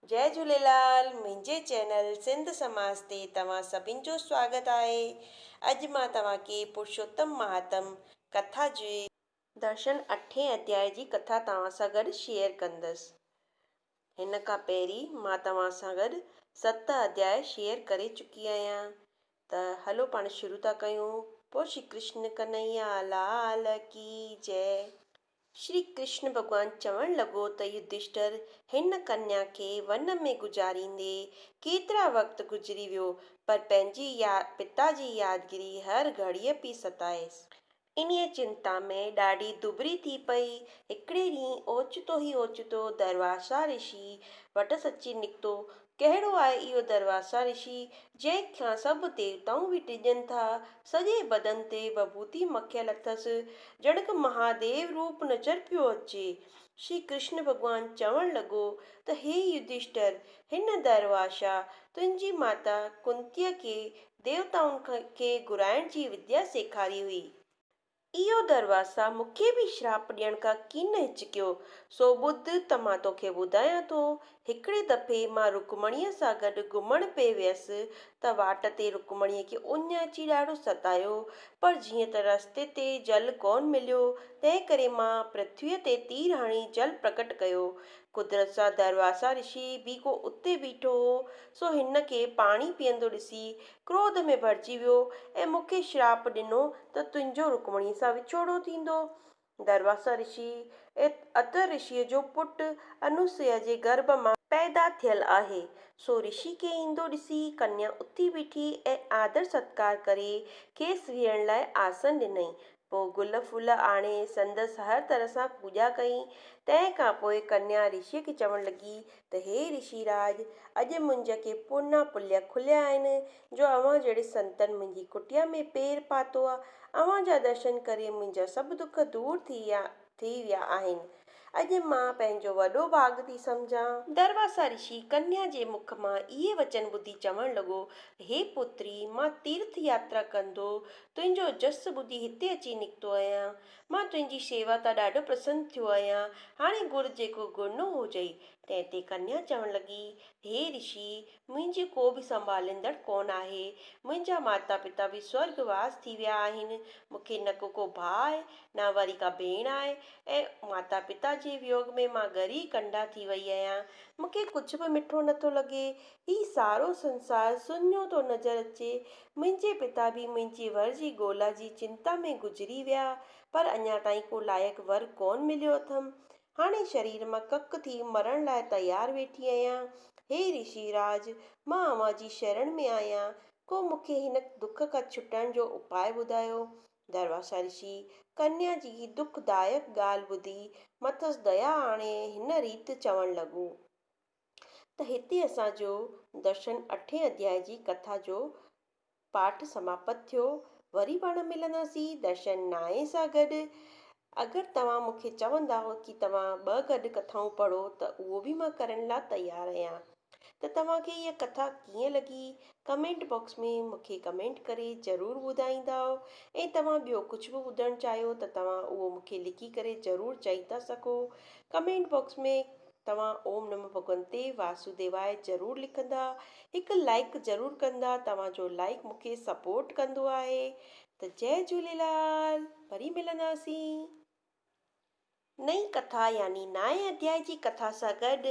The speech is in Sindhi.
جئي جهوليلال منهنجي چينل سنڌ سماج تي توهان سڀن جو سواگت آهي اڄ مان توهان کي پرشوتم مهاتم ڪٿا جي درشن اٺين اڌيائي جي ڪٿا توهان سان گڏ شيئر ڪندس هن کان پهرين مان توهان سان گڏ ست اڌياء شيئر ڪري چڪي آهيان ته هلو پاڻ شروع ٿا ڪيون پوء شري ڪرشن ڪنهيا لال ڪي جئي. شري ڪرشن ڀڳوان چوڻ لڳو ته يڌشٽر هن ڪنيا کي ون ۾ گذاريندي ڪيترا وقت گذري ويو پر پنهنجي پتا جي يادگيري هر گهڙيء پئي ستائيس. انهيء چنتا ۾ ڏاڍي دٻري ٿي پئي. هڪڙي ڏينهن اوچتو ئي اوچتو درواشا رشيء وٽس اچي نڪتو ڪهڙو آهي اهو درواسا رشي، جنهن کان سڀ ديوتائون به ڊڄن ٿا. سڄي بدن تي وڀوتي مکيل اٿس، ڄڻڪ مهاديو روپ نظر پيو اچي. شري ڪرشن ڀڳوان چوڻ لڳو ته هي يڌشٽر، هن درواسا تنهنجي ماتا ڪنتيء کي ديوتائن کي گهرائڻ جي وديا سيکاري هئي. اهو درواسا مون کي به شراپ ڏيڻ کان ڪين هچڪيو، سو ٻڌ ته مان توکي ٻڌايان ٿو. هڪڙي دفعي مان رڪمڻيء سان گڏ گهمڻ پئي ويس ته واٽ تي رڪمڻيء کي اڃ اچي ڏاڍو ستايو، پر جيئن ته رستي تي جل ڪونه مليو، تنهن ڪري مان پرٿويء تي تير هڻي جل پرگٽ ڪيو. قدرت سان درواسا رشي به ڪو اتي بيٺو هو، سو هن کي پاڻي پيئندو ڏسي ڪروڌ ۾ ڀرجي ويو ۽ مون کي شراپ ڏنو ته تنهنجو رڪمڻيء سان وڇوڙو ٿيندو. درواثا رشي ات اتر رشيء جو پٽ انوسيا جي گرڀ مان پيدا ٿيل آهي. سو رشي کي ايندو ڏسي ڪنيا اٿي بيٺي ۽ آدر ستڪار ڪري کيس ويهڻ لاء آسن ڏنائين. پوء گل ڦل آڻي سندس هر طرح سان پوڄا ڪئي. تنهن کان پوء ڪنيا رشيء کي چوڻ لڳي ته هي رشي راڄ! اڄ منهنجا ڪي پورنا پليا کليا آهن، جو اوهان جهڙي سنتن منهنجي ڪٽيا ۾ پير پاتو آهي. اوهان جا درشن ڪري منهنجا سڀ دک دور ٿي ويا آهن. ٿي ويا آهن. اڄ مان پنهنجو وڏو ڀاڳ ٿي سمجهان. درواسا رشي ڪنيا جي مک مان اهي وچن ٻڌي چوڻ لڳو، هي پوتري، مان تيرٿ ياترا ڪندو تنهنجو جس ٻڌي هتي اچي نڪتو آهيان. مان تنهنجي شيوا تان ڏاڍو پرسن ٿيو آهيان. هاڻي گهر جيڪو گهرڻو هجئي. تنهن تي ڪنيا چوڻ لڳي، هي رشي، منهنجي ڪو به سنڀاليندڙ ڪونه آهي. منهنجا ماتا پتا به سورڳ واس ٿي ويا آهن. مون کي نه ڪو ڪو ڀاء آهي نه وري ڪا ڀيڻ آهي ۽ ماتا پتا جي ويوڳ ۾ مان ڳري ڪنڊا ٿي وئي آهيان. مون کي ڪجهه به مٺو نه ٿو لڳي. هي سارو سنسار سنهو ٿو نظر اچي. منهنجي پتا به منهنجي ور جي ڳولا جي چنتا ۾ گذري ويا پر اڃا تائين ڪو لائق ور ڪونه مليو اٿم. هاڻي شرير مان ڪڪ ٿي مرڻ لاء تيار ويٺي آهيان. هي رشي راج! مان اوهان جي شرڻ ۾ آهيان، ڪو مون کي هن دک کان ڇٽڻ جو اپاء ٻڌايو. درواشا رشي، ڪنيا جي هي دک دائڪ ڳالهه ٻڌي، مٿس ديا آڻي هن ريت چوڻ لڳو. ته هتي اسان جو درشن اٺين اڌيائي جي ڪٿا جو پاٺ سماپت ٿيو. وري پاڻ ملنداسين درشن نائين سان گڏ. اگر توهان مون کي چوندا ڪي توهان ٻه گڏ ڪٿائون پڙهو ته اهو به مان ڪرڻ لا تيار اهيان. ته توهان کي اها ڪٿا ڪيئن لڳي ڪمينٽ باڪس ۾ مون کي ڪمينٽ ڪري ضرور ٻڌائيندا ۽ توهان ٻيو ڪجهه به ٻڌڻ چاهيو ته توهان اهو مون کي لکي ڪري ضرور چئي ٿا سگهو ڪمينٽ باڪس ۾ توهان اوم نمو ڀڳونتي واسوديواء ضرور لکندا هڪ لائيڪ ضرور ڪندا توهان جو لائيڪ مونکي سپورٽ ڪندو آهي ته جئي جهوليلال وري ملنداسين نئين ڪٿا يعني نائين اڌيائي جي ڪٿا سان گڏ.